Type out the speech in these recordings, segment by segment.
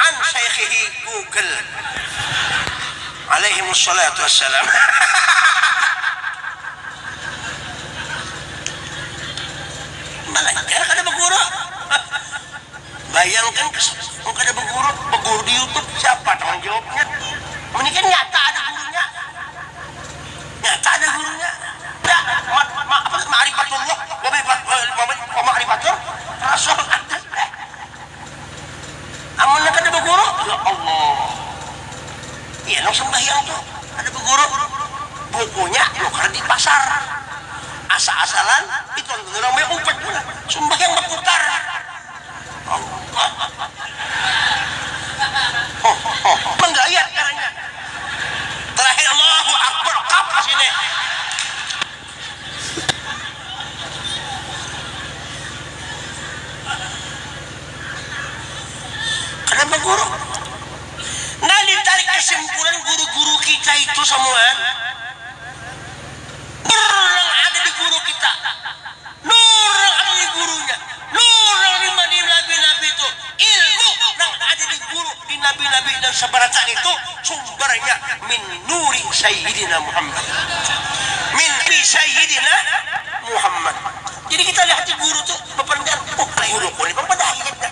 An syaikhihi Google alaihimus shalatu wassalam Balajar kada baguru Bayangkan mun kada baguru Baguru di youtube siapa tanggung jawabnya Mun ikam nyata ada gurunya. Nya kada gurunya dah mat ma apa tu maarifatullah wa maarifatur rasul aduh eh amunnya kada baguru ya Allah iya nang sambahyang tu kada baguru bukunya nukar di pasar asa-asalan itu nang baupat pulang sambahyang bakutar. Manggayat ngarannya. Terakhir Allahu Akbar kap di sini. Kenapa guru? Nah ditarik kesimpulan guru-guru kita itu samuaan. Nur nang ada di guru kita, Nur nang ada di gurunya, Nur nang diimba di nabi-nabi itu, ilmu nang ada di guru di nabi-nabi nang sabaracaan itu sumbernya min nuri sayyidina Muhammad, min nuri sayyidina Muhammad. Jadi kita lihat di guru tu bapandangan, oh guruku ni pang badayat dah.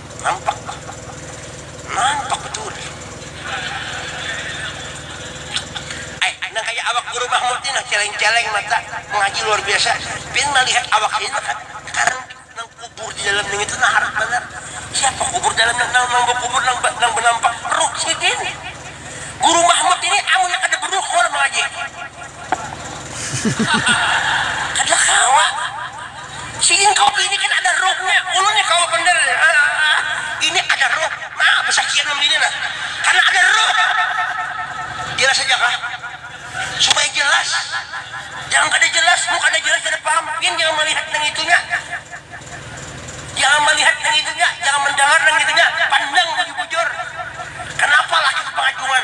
Nampak kah? Nampak betul. Ai, nang kaya awak Guru Mahmud ni nah celeng-celeng mata, mengaji luar biasa. Pian malihat awak ini nah kada karan nang kubur di dalam ningitu nah harat banar. Siapa kubur dalam nah nang nang bakubur nang ba nang banampak ruh sidin. Guru Mahmud ini amunnya kada beruh kawa lah mengaji. Kada kawa. Si ingkau bini kada ada ruhnya. Ulun ni kawa banar. Ini ada ruh. Nah, basakian wan bini nah. Kada ada ruh. Jelas haja kah? Supaya jelas. Jangan kada jelas. Mun kada jelas kada paham. Pian jangan malihat nang itunya. Jangan malihat nang itunya. Jangan mandangar nang itunya. Pandang bujur-bujur. Kanapa laki tu pangacuan.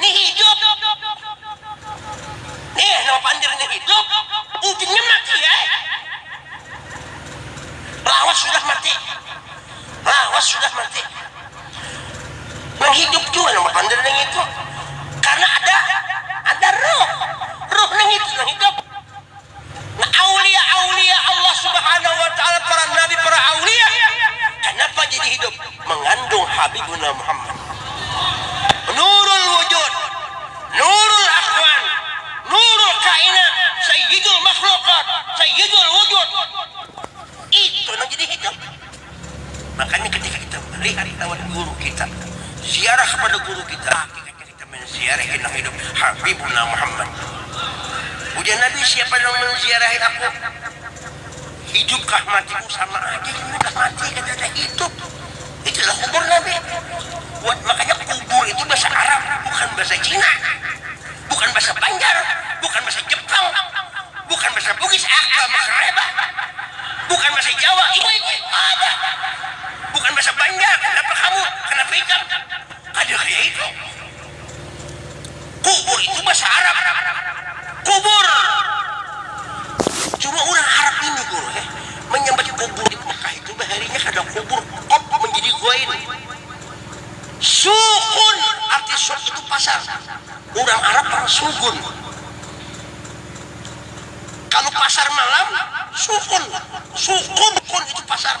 Ni hidup. Nih nang pandir ni hidup, ujungnya mati ai. Lawas sudah mati. Lawas sudah mati. Nang hidup jua nang bapandir nangitu. Karena ada ada ruh. Ruh nangitu nang hidup. Nah aulia-aulia Allah subhanahu wa ta'ala para nabi para aulia kanapa jadi hidup mangandung habibuna Muhammad nurul wujud nurul akhwan nurul kainat sayyidul makhluqat sayyidul wujud itu nang jadi hidup makanya ketika kita melihat lawan guru kita ziarah kepada guru kita Kita manziarahi nang hidup, Habibuna Muhammad. Ujar Nabi, siapa nang manziarahi aku, hidup kah mati ku sama aja ini kada mati kadada hidup. Itu lah kubur Nabi. Buat makanya kubur itu bahasa Arab, bukan bahasa Cina, bukan bahasa Banjar, bukan bahasa Jepang, bukan bahasa Bugis, aka makareba, bukan bahasa Jawa, iwaiku, kada. Bukan bahasa Banjar, kenapa kamu, kenapa ikam. Kada kaya itu. Kubur itu basa Arab. Kubur. Cuma urang Arab ini Guru he, manyambat kubur di Mekah itu baharinya kada kubur, kop manjadi goin. Sukun, arti suk itu pasar. Urang Arab marang sugun. Kalu pasar malam, sukun. Sukun, kun itu pasar.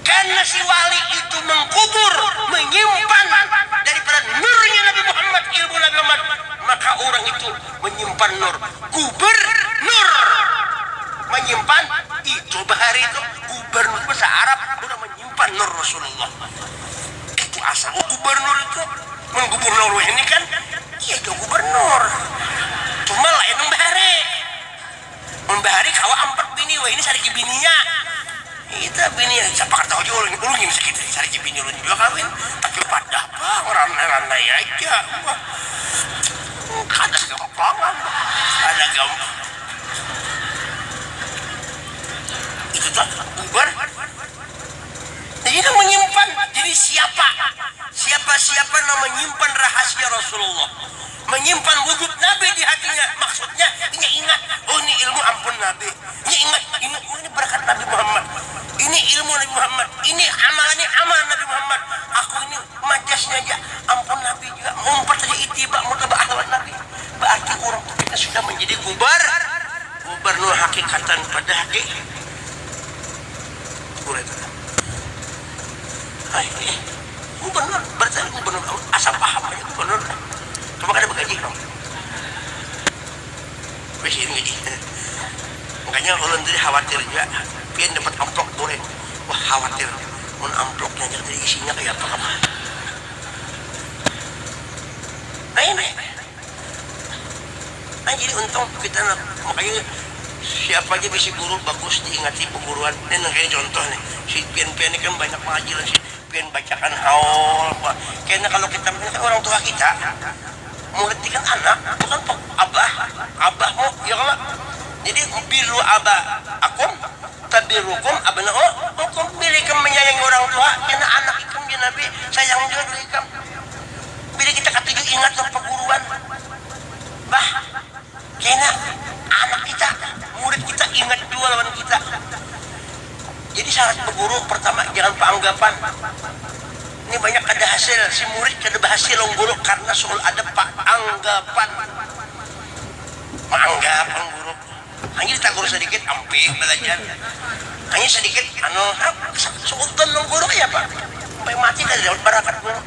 Karena si wali itu mengkubur, menyimpan daripada nurnya Nabi Muhammad, ilmu Nabi Muhammad, maka urang itu menyimpan nur. Guber nur, menyimpan itu bahari itu gubernur bahasa Arab urang menyimpan nur Rasulullah. Itu asal oh gubernur itu menggubur nur wahini kan iya jua gubernur cuma lain nang bahari. Mun bahari kawa ampat bini wahini sariki bininya. Ngitu bini sapakar tahu jua ulun ulun gin sakitu sariki bini ulun jua kawin tapi padah pang randai randai aja bah kada gampangan bah kada gampang itu tu bubar jadi nang manyimpan jadi siapa siapa siapa nang manyimpan rahasia rasulullah. Manyimpan wujud Nabi di hatinya, maksudnya inya ingat, oh ini ilmu ampun Nabi. Inya ingat, ini oh ini barakat Nabi Muhammad, ini ilmu Nabi Muhammad, ini amal ini amal Nabi Muhammad, aku ini majasnya ja ampun Nabi jua, maumpat haja itiba mutaba'ah lawan Nabi. Ba'arti urang tu kita sudah manjadi gubar, gubernur hakikatan pada hati urang itu. Ai. Gubernur, berarti ada gubernur aun, asa paham aja gubernur nah, cuma kada bagaji pang, miskin gaji nya, makanya ulun tadi khawatir jua pian dapat amplop bule, wah khawatir mun amplop nya ja tadi isinya kaya apa kam, lain. Nah jadi untung tu kita nah, makanya siapa ja bisi guru bagus diingati beguruan, nih nangkaya contoh nih si pian pian nih kan banyak mangaji lawan si pian bacakan haul apa, kena kalo kita ini kan orang tua kita, murid nih kan anak bukan pang abah abah mu ya kalo, jadi birru aba akum tabirukum abna u ukum, bila ikam manyayangi orang tua kena anak ikam ja nabi sayang jua dulu ikam. Bila kita katuju ingat wan paguruan, bah, kena anak kita, murid kita ingat jua lawan kita. Jadi syarat baguru, pertama, jangan paanggapan, ni banyak kada hasil, si murid kada bahasil lawan guru karna suul adab paanggapan, maanggap lawan guru. Hanyar ditagur sadikit, ampih balajar. Hanyar sadikit, anu, hap, seutan lawan guru kayapa? Sampai mati kada dapat barakat guru.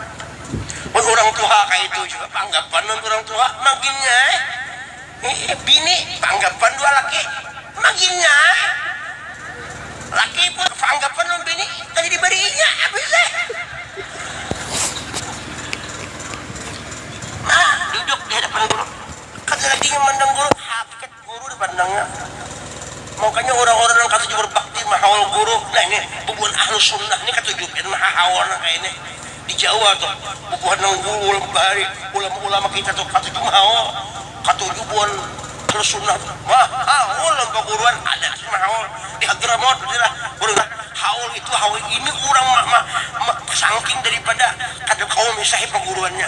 Mun urang tuha kayatu jua, baanggapan lawan urang tuha, maginnya ai. Hihi, bini baanggapan dua laki, maginnya ai. Laki pun baanggapan lawan bini, kada dibariinya, habis ai. Nah, duduk di hadapan guru. Kada lagi inya mandang guru, hakikat guru di pandangnya. Makanya urang-urang nang katuju berbakti mahaul guru, nah ini bubuhan Ahlussunnah ni katuju gin mahahaul nang kaya ini. Di Jawa tu, bubuhan nang guru ulun bahari, ulama-ulama kita tu katuju mahaul. Katuju buhan Ahlussunnah tu mahaul lawan paguruan, ada gin mahaul. Di Hadramaut ada lah guru nang haul itu, haul ini, urang ma-ma-ma sangking daripada kada kawa misahi paguruannya.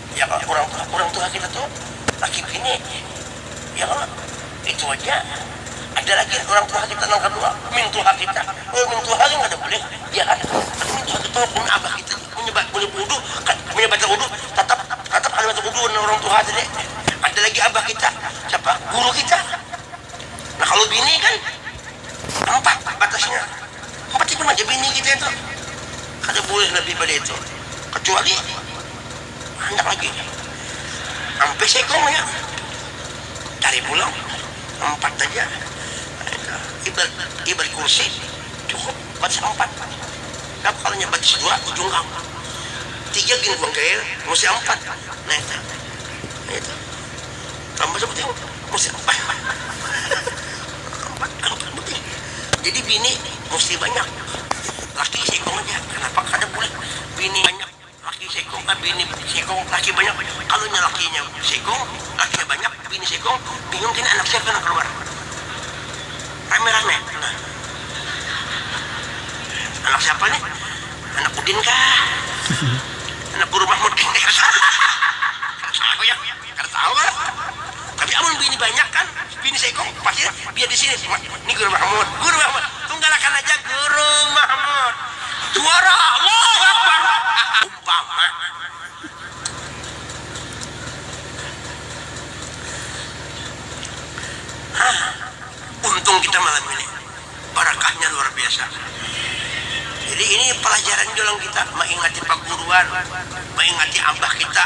Ya kah, urang tuha, urang tuha kita tu laki bini, ya kah, itu haja. Ada lagi urang tuha kita nang kadua, mintuha kita. Mun mintuha gin kada bulih, ya kah. Tapi mintuha kita mun abah kita ni munnya ba, munnya bawudu, kad, munnya batawudu tatap, tatap kada batawudu lawan urang tuha tadi. Ada lagi abah kita, siapa, guru kita. Nah kalu bini kan, empat batasnya. Macam mana ja bini kita itu, kada boleh lebih pada itu, kecuali handak lagi ampih saikung aja cari pulang empat haja ibarat ibarat kursi cukup batis ampat napa ngarannya batis dua jungkang tiga gin kuang kail musti ampat nah itu, nah itu tambah sebuting. Jadi bini musti banyak, laki seikung aja. Kenapa kada bulih bini banyak, laki seikung, eh bini seikung, laki banyak. Kalu inya lakinya seikung, lakinya banyak, bini seikung, bingung kena anak siapa nang kaluar. Rame-rame. Nah. Anak siapa nih? Anak udin kah? Anak guru mahmud kah? Kada tahu ya. Kada tahu kah? Tapi amun bini banyak kan, bini seikung pasti biar di sini. Ni Guru Mahmud, Guru Mahmud. Tunggalakan aja Guru Mahmud. Juara, Allahu Akbar. Umpama. Hah, untung kita malam ini. Barakahnya luar biasa. Jadi ini pelajaran jua lawan kita, maingati paguruan, maingati abah kita.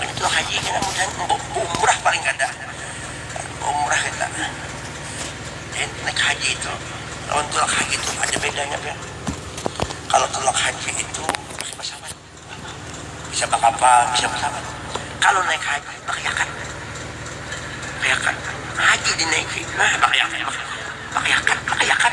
Wayah tulak haji kena bulian baumrah paling kada baumrah kita jadi naik haji itu lawan tulak haji itu ada bedanya pian kalo tulak haji itu pakai pasawat bisa bakapal bisa pasawat kalo naik haji pakai yakat pakai yakat haji dinaiki nah pakai yakat pakai yakat pakai yakat.